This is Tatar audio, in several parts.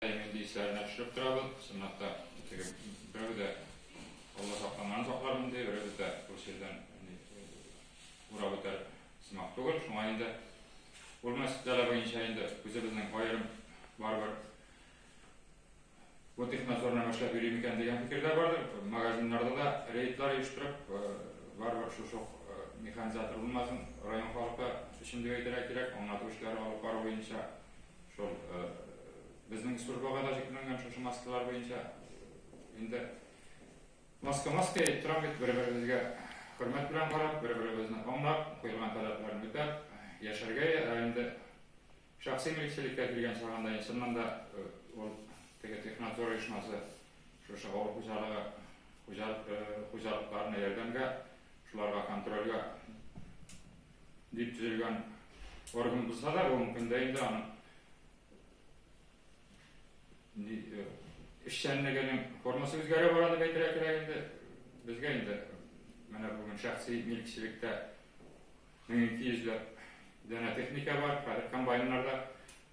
Әймен би өсләренә төшереп торабыз, чынлап та, теге берәү дә Алла саклаган саклармын ди, беребез дә бу җирдән урап үтәр сымак түгел, шуңа инде ул мәсьәлә буенча инде үзебезнең аерым барыбер бу технадзорның эшләп йөри микән дигән фикерләр бардыр. Магазиннарда да рейдлар оештырып, барыбер шушы механизатор булмасын, район халкы өчен дип әйтергә кирәк, аңлату эшләре алып бару буенча Шул безнең службага да җитмәгән шушы маскалар буенча инде маска маска әйтеп торам бит бер беребезгә хөрмәт белән карап бер беребезне аңлап куелган таләпләрне үтәп яшәргә ә инде шәхси милексилеккә килгән чагында чыннан да ул теге технадзор оешмасы шушы авыл хуҗалыгы хуҗалыкларына ярдәмгә шуларга контрольгә Дип төзелгән орган булса да, бүгенге көндә инде аның э, эшчәнлегенең формасы үзгәрә бара дип әйтергә кирәк инде. Безгә инде менә бүген шәхси милкчелектә мең ике йөзләп данә техника бар, хәзер комбайннарда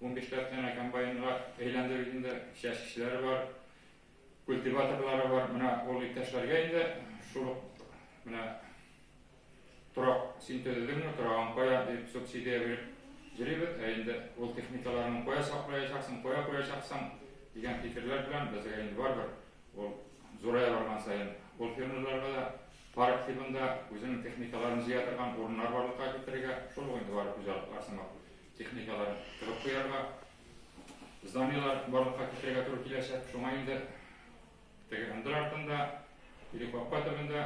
он бишләп данә комбайнга әйләндерү инде, чәчкечләре бар, культиваторлары бар, менә ул иптәшләргә инде шул менә Торак син төзедеңме, торагың кая, дип субсидия биреп йөрибез, ә инде ул техникаларны кая саклаячаксың, кая куячаксың, дигән фикерләр белән безгә инде барыбер ул зурая барган саен ул фермерларга да парк тибында үзенең техникаларын җыя торган урыннар барлыкка китерергә, шул ук инде барып хуҗалыклар сымак техникаларын тыгып куярга, зданиелар барлыкка китерергә туры киләчәк. Шуңа инде теге ындыр артында, или капка төбендә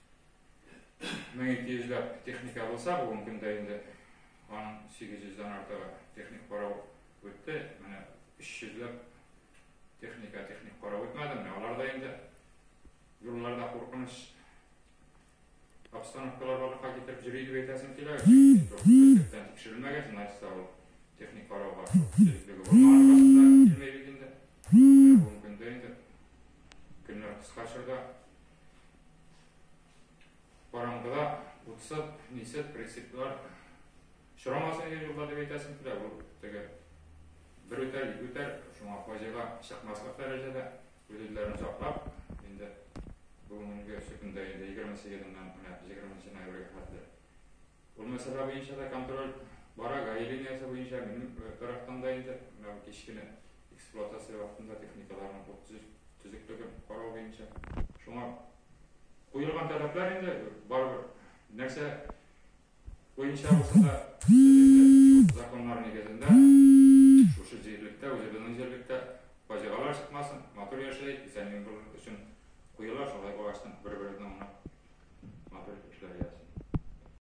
Мең ике йөзләп техника булса, бүгенге көндә инде аның сигез йөздән артыгы техник карау үтте. Менә өч йөзләп техника техник карау үтмәде. Менә алар да инде юлларда куркыныч обстановкалар барлыкка китереп йөри дип әйтәсем килә. Төптән тикшерелмәгән, значит, ул техник карауга төзеклеге булмаган вакытта килмәй бит инде. Бүгенге көндә инде көннәр кыска чорда Караңгыда утсыз, мисез прицеплар очрамасын иде юлда дип әйтәсең килә. Бу теге бер үтәр, ике үтәр, шуңа фаҗига чыкмаслык дәрәҗәдә үз-үзләрен саклап, инде бүгенге көнгә инде егерме сигезеннән менә җигерменче ноябрьгә хәтле, Бу мәсьәлә буенча да контроль бара. Гаи линиясе буенча минем тарафтан да инде менә кич кенә эксплуатация вакытында техникаларның бу төзеклеген карау буенча шуңа куелган таләпләр инде барыбер нәрсә буенча булса да законнар нигезендә шушы җирлектә, үзебезнең җирлектә фаҗигалар чыкмасын, матур яшәйек, исән-имин булыйк өчен куела, шулай булгачтын бер-беребезне аңлап матур эшләр ясыйк.